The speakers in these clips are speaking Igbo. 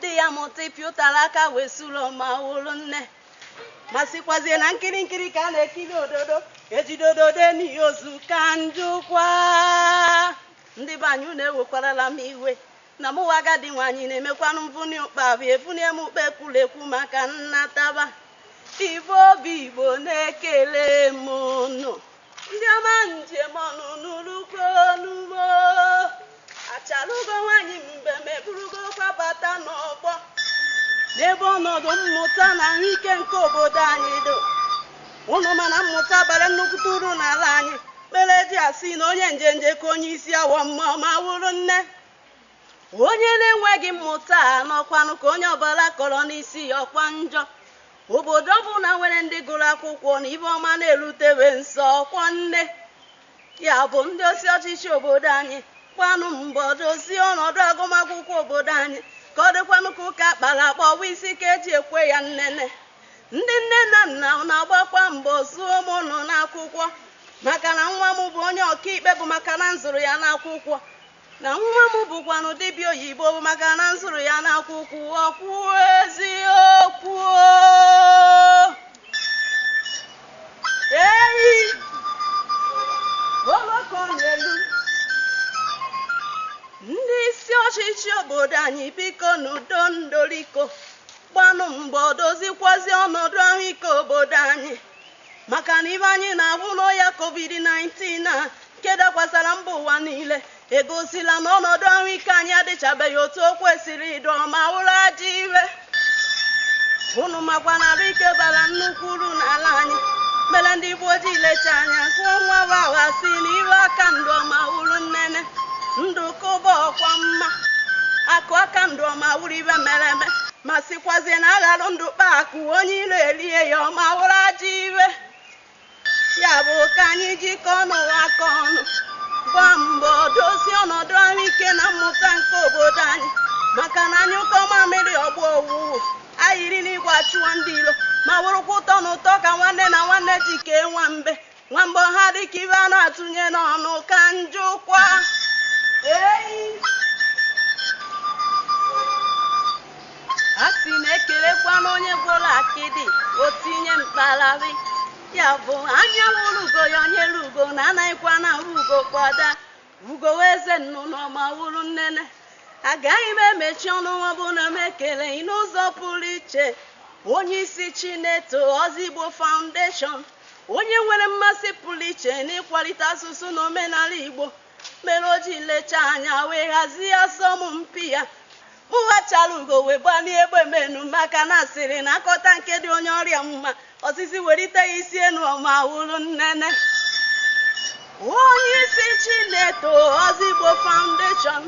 Di ya amụta ịpị ụtara aka wee suru ma wụrụ nne. Ma sikwazie na nkiri nkiri ka a na-ekiri ododo. Ejide ododo eni ozu ka njụkwa. Ndị be anyị unu ewekwarala m iwe. Na mụwa agadi nwaanyị na-emekwanụ mvuni ụkpa bụ evunie m ụkpa ekwuru ekwu maka nnataba. Igbo bụ Igbo na-ekele m unu. ndị ọma njem ọnụ n'ụlọukwu n'ugbo achalugo nwaanyị mbem eburugokwa bata n'ọgbọ n'ebe ọnọdụ mmụta na ahụike nke obodo anyị dị unu ma na mmụta bara nnukwute uru n'ala anyị mere eji asị na onye njenje ka onye isi awọ mma ma wụrụ nne onye na-enweghị mmụta nọkwanụ ka onye ọbụla kọrọ n'isi ya ọkwa njọ obodo ọbụla nwere ndị gụrụ akwụkwọ na ibe ọma na-erutewe nso ọkwa nne ya bụ ndị isi ọchịchị obodo anyị gbanụ mbọ dozie ọnọdụ agụmakwụkwọ obodo anyị ka ọ dịkwanụ ka ụka akpara akpa ọ bụ isi ka eji ekwe ya nnene ndị nne na nna na-agbakwa mbọ zụọ ụmụ unu n'akwụkwọ maka na nwa m bụ onye ọkaikpe bụ maka na m zụrụ ya n'akwụkwọ na nwa m bụkwanụ dibịa oyibo bụ maka na m zụrụ ya n'akwụkwọ okwu eziokwu eyi oloko n'elu ndị isi ọchịchị obodo anyị bikonụ doo ndoriko gbanụ mbọ dozikwazie ọnọdụ ahụike obodo anyị maka na ibe anyị na-ahụ n'ọya covid-19 a nke dakwasara mba ụwa niile egosila na ọnọdụ ahụike anyị adịchabeghị otu o kwesịrị ịdị ọma wụrụ ajọ iwe unu makwa na ahụike bara nnukwu uru n'ala anyị mere ndị igbo ji lecha anya gụọ nwa wa awa sị na iwe aka ndụ ọma wụrụ nnene ndụ ka ụba ọkwa mma akụ aka ndụ ọma wụrụ ibe mere eme ma sikwazie na aghara ndụ kpaa akụ onye iro erie ya ọma wụrụ ajọ iwe ya bụ ka anyị jikọọnụ aka ọnụ gbaa mbọ dozie ọnọdụ ahụike na mmụta nke obodo anyị maka na anyụkọọ mamịrị ọ gbọọ ụwụwụ ayiri n'igwe achụwa ndị iro ma wụrụkwa ụtọ na ụtọ ka nwanne na nwanne ji kee nwa mbe nwamgbọ ha dịka ibe a na-atụnye n'ọnụ ka njụkwa eyi a sị na ekelekwanụ onye gwọrọ akịdị o tinye mkpagharị ya bụ anya wụrụ ugo ya onye ugo na anaghịkwanụ ahụ ugo kwa daa Ugo wụ eze nnụnụ ọma wụrụ nnene agaghị m emechi ọnụ ma ọ bụ na m ekeleghị n'ụzọ pụrụ iche onye isi Chineto Ozigbo Foundation onye nwere mmasị pụrụ iche n'ịkwalite asụsụ na omenala Igbo mere o ji lechaa anya wee hazie asọmpi a Kpọọ achara ugo wee gbanie egbe m enu maka na a sịrị na a kọta nke dị onye ọrịa mma osisi werite ya isi enu ọma wụrụ nnene onye isi Chineto Ozigbo Foundation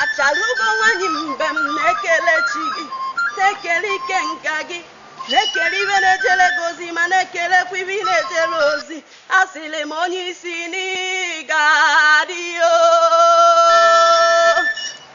achara ugo nwanyị mgbe m na-ekele chi gị na-ekele ike nka gị na-ekele ibe na-ejere gị ozi ma na-ekelekwa ibe ị na-ejere ozi asịrị m onye isi na ị ga-adị